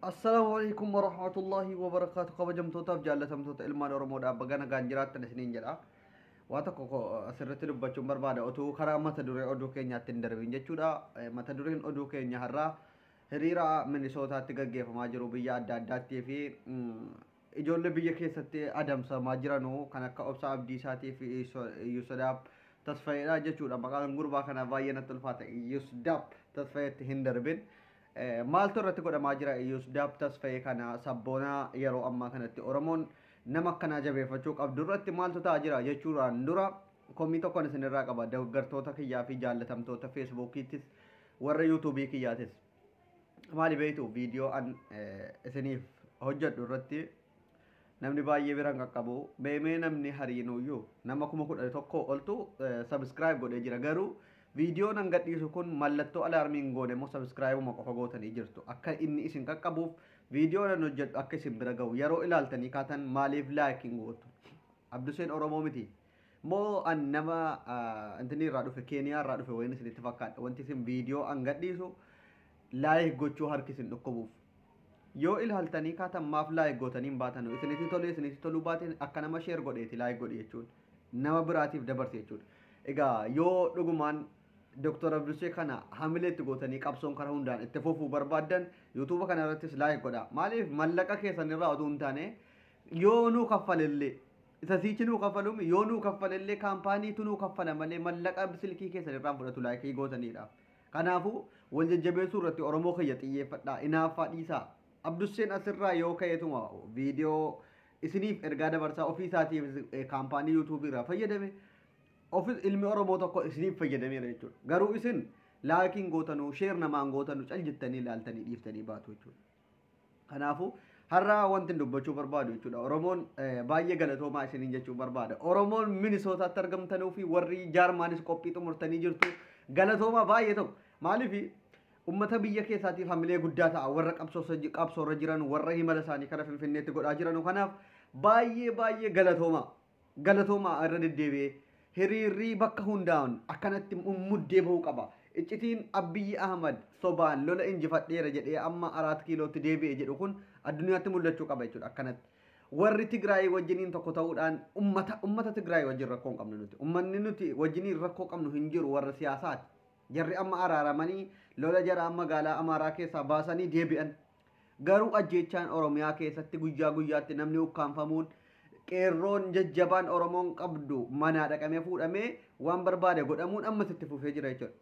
Assalaamu alaikum wa rahmatullahi wa barakaatu kabajamtootaaf jaallatamtoota ilmaan Oromoodhaaf baga nagaan jiraattan isiniin jedha. Waa tokko ko- asirratti dubbachuun barbaada utuu karaa mata duree oduu keenyaatti hin darbiin jechuudha. Eh, Mata dureen oduu keenya har'aa hiriira Minisootaatti gaggeeffamaa jiru biyya adda addaattii fi mm, ijoollee biyya keessatti adamsamaa jiranu kan akka Obsaa Abdiisaatii fi Yusudaab Tasfayeedha jechuudha. Maqaan gurbaa kanaa baay'ee natti ulfaata. Yusudaab Tasfayeetti hin darbin. Maaltu irratti godhamaa jira Iyyus Daab Tasfayee kana sabboonaa yeroo ammaa kanatti Oromoon nama akkanaa jabeeffachuu qabdu irratti maaltu ta'aa jira jechuudhaan dura komii tokkoon isinirraa qaba deeggartoota kiyyaa fi jaallatamtoota feesbuukiittis warra yuutuubii kiyyaatis maali beektu viidiyoo an isiniif hojjedhu irratti Namni baay'ee bira hin qaqqabu. Mee mee namni hariinuyyuu nama kuma kudha tokko oltu subscribe godhee jira garuu viidiyoon an gadhiisu kun mallattoo alaarmii hin goone immoo subscribeuma qofa gootanii jirtu akka inni isin qaqqabuuf viidiyoon an hojjedhu akka isin bira ga'u yeroo ilaaltanii kaatan maaliif like hin gootu abduseen oromoo miti Moo an nama intinii irraa dhufe keeniyaa irraa dhufe wayin isinitti fakkaadha wanti isin viidiyoo an gadhiisu laayik gochuu harki isin dhukkubuuf yoo ilaaltanii kaatan maaf laayik gootanii hin baatanu isinitti tolee isinitti toluu baateen akka nama sheer godheeti laayik godhi jechuun nama biraatiif dabarse jechuudha egaa yoo dhugumaan Dr. Abdushee kana hamilee itti gootanii qabsoon karaa hundaan itti fufuu barbaaddan yuutuuba kana irrattis laayik godha maaliif mallaqa keessan irraa oduu hin taane yoo nuu kaffalellee Isa siichi nuu kaffaluumi yoo nuu kaffale illee kaampaanii tu nuu kaffala malee mallaqa silkii keessan irraa hin fudhatu like gootaniidha. Kanaafu wal jajjabeessuu irratti oromoo kiyya xiyyeeffadhaa inaaffaa dhiisaa. Abdusseen as irraa yoo ka'eetuma video isiniif ergaa dabarsaa ofii isaatiifis kaampaanii youtube irraa fayyadame ofis ilmi oromoo tokko isiniif fayyadameera jechuudha. Garuu isin like hin gootanu share namaa hin gootanu cal jettanii ilaaltanii dhiiftanii baatu jechuudha. Kanaafuu har'a wanti dubbachuu barbaadu jechuudha. Oromoon baay'ee galatoomaa isiniin jechuu barbaada. Oromoon Minisootaatti argamtanuu fi warri Jaarmaanis qophii xumurtanii jirtu galatoomaa baay'ee tokko. Maaliif ummata biyya keessaatiif hamilee guddaa ta'a warra qabsoorra jiran warra himala isaanii kana finfinneetti godhaa jiran kanaaf baay'ee baay'ee galatoomaa. Galatoomaa irra deddeebi'ee. Hiriirrii bakka hundaa'un akkanatti mummuddee bahuu qaba. Iccitiin Abbiyyi Ahmad sobaan lola injifadheera jedhee amma Araat Kiilootti deebi'e jedhu kun addunyaatti mul'achuu qaba jechuudha akkanatti. Warri Tigraayii wajjiniin tokko ta'uudhaan ummata ummata Tigraayii wajjin rakkoo hin qabnu nuti. Ummanni nuti wajjiniin rakkoo qabnu hin jiru warra siyaasaati. Jarri amma araaramanii lola jaraa magaalaa Amaaraa keessaa baasanii deebi'an. Garuu ajjeechaan Oromiyaa keessatti guyyaa guyyaatti namni ukkaamfamuun qeerroon jajjabaan Oromoon qabdu manaa dhaqamee fuudhamee waan barbaade godhamuun ammas itti fufee jira jechuudha.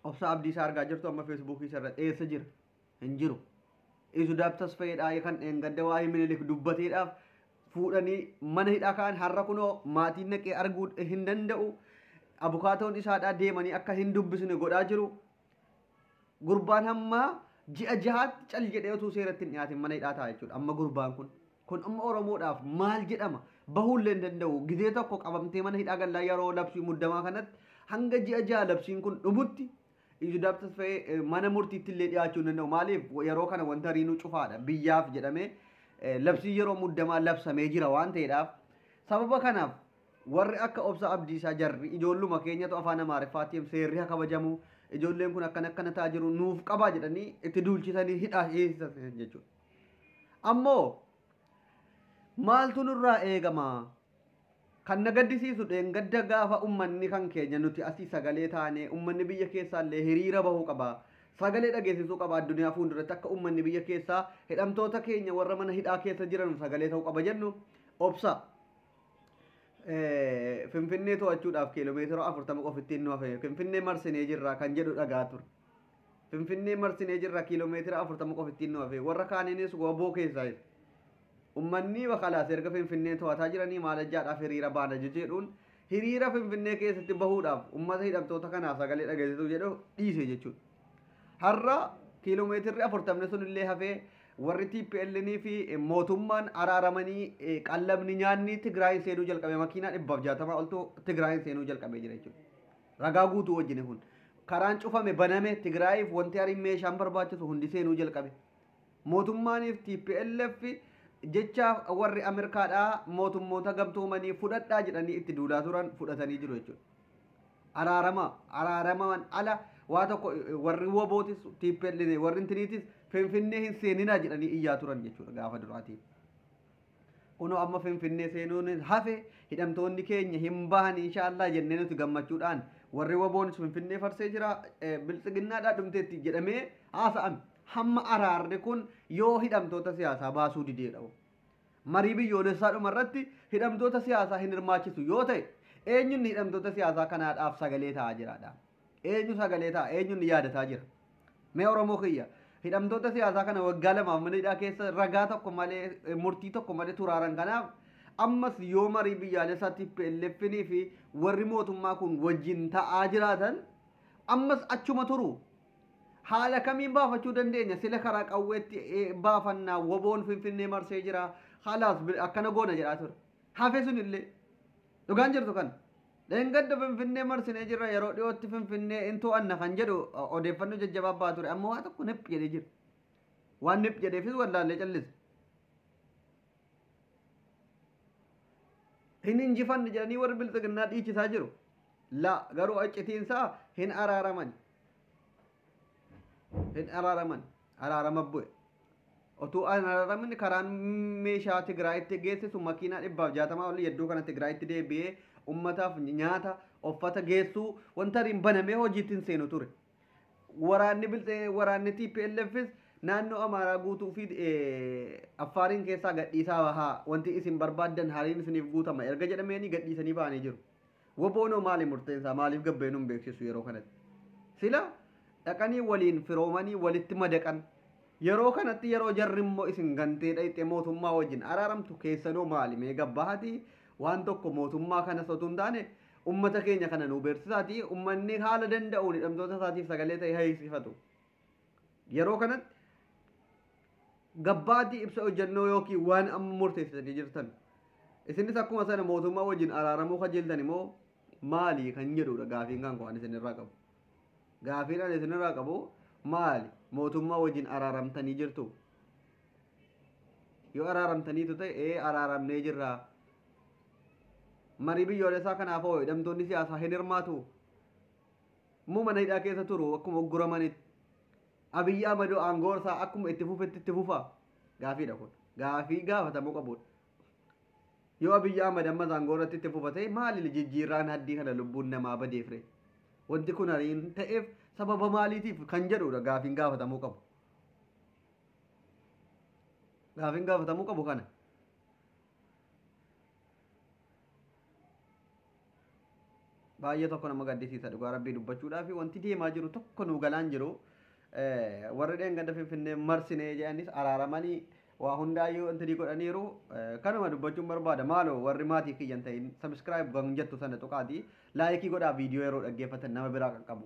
Obsaa Abdiisaa argaa jirtu amma feesbuukii isa irratti eessa jira? Hin jiru. Isu daabtas fayyadhaa kan dheengadda waa'ee minilik dubbateedhaaf fuudhanii mana hidhaa ka'an har'a kunoo maatiin naqee arguu hin danda'u. Abukaatoon isaadhaa deemanii akka hin dubbisne godhaa jiru. Gurbaan hamma ji'a jahaatti cal jedhee utuu seeratti hin dhiyaatin mana hidhaa ta'a jechuudha. Amma gurbaan kun. Kun amma Oromoodhaaf maal jedhama? Bahuullee hin danda'u. Gizee tokko qabamtee mana hidhaa gallaa yeroo labsii muddamaa kanatti hanga ji'a jaha labsiin kun dhumutti Yusudaaf Tasfayee mana murtiitti illee dhiyaachuu hin danda'u. Maaliif yeroo kana wanta riinuu cufaadha. Biyyaaf jedhamee labsii yeroo muddamaa labsamee jira waan ta'eedhaaf. Sababa kanaaf Warri akka Obsaa Abdiisaa jarri ijoolluma keenyatu afaan Amaariffaa TM seerri ha kabajamu, ijoolleen kun akkana akkana ta'a jiru nuuf qabaa jedhanii itti duulchisanii hidhaa hiisisa jechuudha. Ammoo maaltu nurraa eegama? Kan na gaddisiisu dheengadda gaafa ummanni kan keenya nuti asii sagalee taane ummanni biyya keessaallee hiriira bahuu qaba. Sagalee dhageessisuu qaba addunyaa fuulduratti akka ummanni biyya keessaa hidhamtoota keenya warra mana hidhaa keessa jiran sagalee ta'uu qaba jennu obsa. Finfinnee to'achuudhaaf kiiloomeetira 40 qofa ittiin nu hafe Finfinnee marsinee jirra kan jedhu dhagaa ture. Finfinnee marsinee jirra kiiloomeetira 40 qofa ittiin nu hafe warra kaaniinis waboo keessaa ummanni bakalaas erga Finfinnee to'ataa jiranii maalajjaadhaaf hiriira baana jechuudhuun hiriira Finfinnee keessatti bahuudhaaf ummata hidhamtoota kanaa sagalee dhageessisu jedhu dhiise jechuudha. Har'a kiiloomeetirri afurtamni sun illee hafee warri TPLN fi mootummaan araaramanii eh, qallabni nyaanni Tigraayin seenuu jalqabe makiinaa dhibbaaf jaatamaa oltu Tigraayin seenuu jalqabee jira jechuudha. Ragaa guutuu wajjin kun. Karaan cufame baname Tigraayiif wanti hariin meeshaan barbaachisu hundi seenuu jalqabe. Mootummaaniif TPLF jecha warri Ameerikaadhaa mootummoota gamtoomanii fudhadhaa jedhanii itti duulaa turan fudhatanii jiru jechuudha. araarama araaramaan ala waa tokko warri wabootis tiippellee warri intiniitis finfinnee hin seeninaa jedhanii iyyaa turan jechuudha gaafa duraatiin. Kunoo amma finfinnee seenuun hafe hidhamtoonni keenya hin bahan inshaallah jennee nuti gammachuudhaan warri waboonis finfinnee farsee jira biltsiginnaadhaa dhumteetti jedhamee haasa'ame. Hamma araarri kun yoo hidhamtoota siyaasaa baasuu dideedha. Marii biyyoolessaa dhuma irratti hidhamtoota siyaasaa hin hirmaachisu yoo ta'e eenyu inni hidhamtoota siyaasaa kanaadhaaf sagalee ta'aa jiraadha? Eenyu sagalee ta'a? Eenyu inni yaadataa jira? Mee Oromoo kiyya hidhamtoota siyaasaa kana waggaa lamaaf mana hidhaa keessa ragaa tokko malee eh, murtii tokko malee turaaran kanaaf ammas yoo marii biyyaalessaa TPLFnii fi warri mootummaa kun wajjin ta'aa jiraatan ammas achuma turu Haala kamiin baafachuu dandeenya? Sila karaa qawweetti eh, baafanna. Woboon Finfinnee marsee jira. Halaas bil- akkana goona jedhaa ture. Hafe sun illee. Dhugaan jirtu kan. Dheengadda Finfinnee marsinee jirra yeroo dhiyootti Finfinnee in to'anna kan jedhu o- odeeffannoo jajjabaa ba'aa ture. Amma waa tokko nip jedhee jira. Waan nip jedheefis wallaallee callise. hin injifanne jedhanii warri bilxiginnaa dhiichisaa jiru. La garuu accitiinsaa hin araaraman. hin araaraman araarama bu'e otuu hin araaramne karaan meeshaa Tigraayitti geessisu makiinaa dhibbaaf jaatamaa olii iddoo kana Tigraayitti deebi'ee ummataaf nyaata uffata geessuu wanta ariin banamee hojiitti hin seenu ture. Waraanni biltee waraanni TPLFs naannoo Amaaraa guutuu fi Affaariin keessaa gadhiisaa bahaa wanti isin barbaaddan hariin isiniif guutama erga jedhameenii gadhiisanii bahanii jiru. Woboonoo maali murteensaa maaliif gabbee nun beeksisu yeroo kanatti? Sila dhaqanii waliin firoomanii walitti madaqan yeroo kanatti yeroo jarri immoo isin gantee dhayxee mootummaa wajjin araaramtu keessanoo maali mee gabbahati waan tokko mootummaa kana sotuu hin taane ummata keenya kana nuu beeksisaati ummanni haala danda'uun hidhamtoota isaatiif sagalee ta'e hayyisifatu. Yeroo kanatti gabbaatii ibsa hojjannoo yookiin waan amma murteessitanii jirtan isinis akkuma sana mootummaa wajjin araaramuu kajeeltan immoo maali kan jedhudha gaafiin kan waan isinirraa qabu. Gaafiin ani isinirraa qabu maali mootummaa wajjin araaramtanii jirtu. Yoo araaramtaniitu ta'e ee araaramnee jirra. Marii biyyoolessaa kanaaf hoo hidhamtoonni siyaasaa hin hirmaatu. Yommuu mana hidhaa keessa turu akkuma ugguramanitti Abiyyi Ahmadoo aangoon isaa akkuma itti fufetti itti fufaa? Gaafiidha kun. Gaafii gaafatamuu qabudha. Yoo Abiyyi Ahmad ammas aangoo irratti itti fufa ta'e maali jijjiirraan haddii kana lubbuun namaa badeef ree? Wanti kun ariin ta'eef sababa maaliitiif kan jedhudha gaafiin gaafatamuu qabu. Gaafiin gaafatamuu qabu kana. baay'ee tokko nama gaddisiisa dhugaa rabbii dubbachuudhaaf wanti deemaa jiru tokko nuu galaan jiru warri dheengadda finfinnee marsinee jedhanis araaramanii waa hundaayyuu wanti godhaniiru kanuma dubbachuun barbaada maaloo warri maatii kiyyan ta'in sabiskiraayib kan jettu sana tuqaati laayikii godhaa viidiyoo yeroo dhaggeeffatan nama biraa qaqqabu.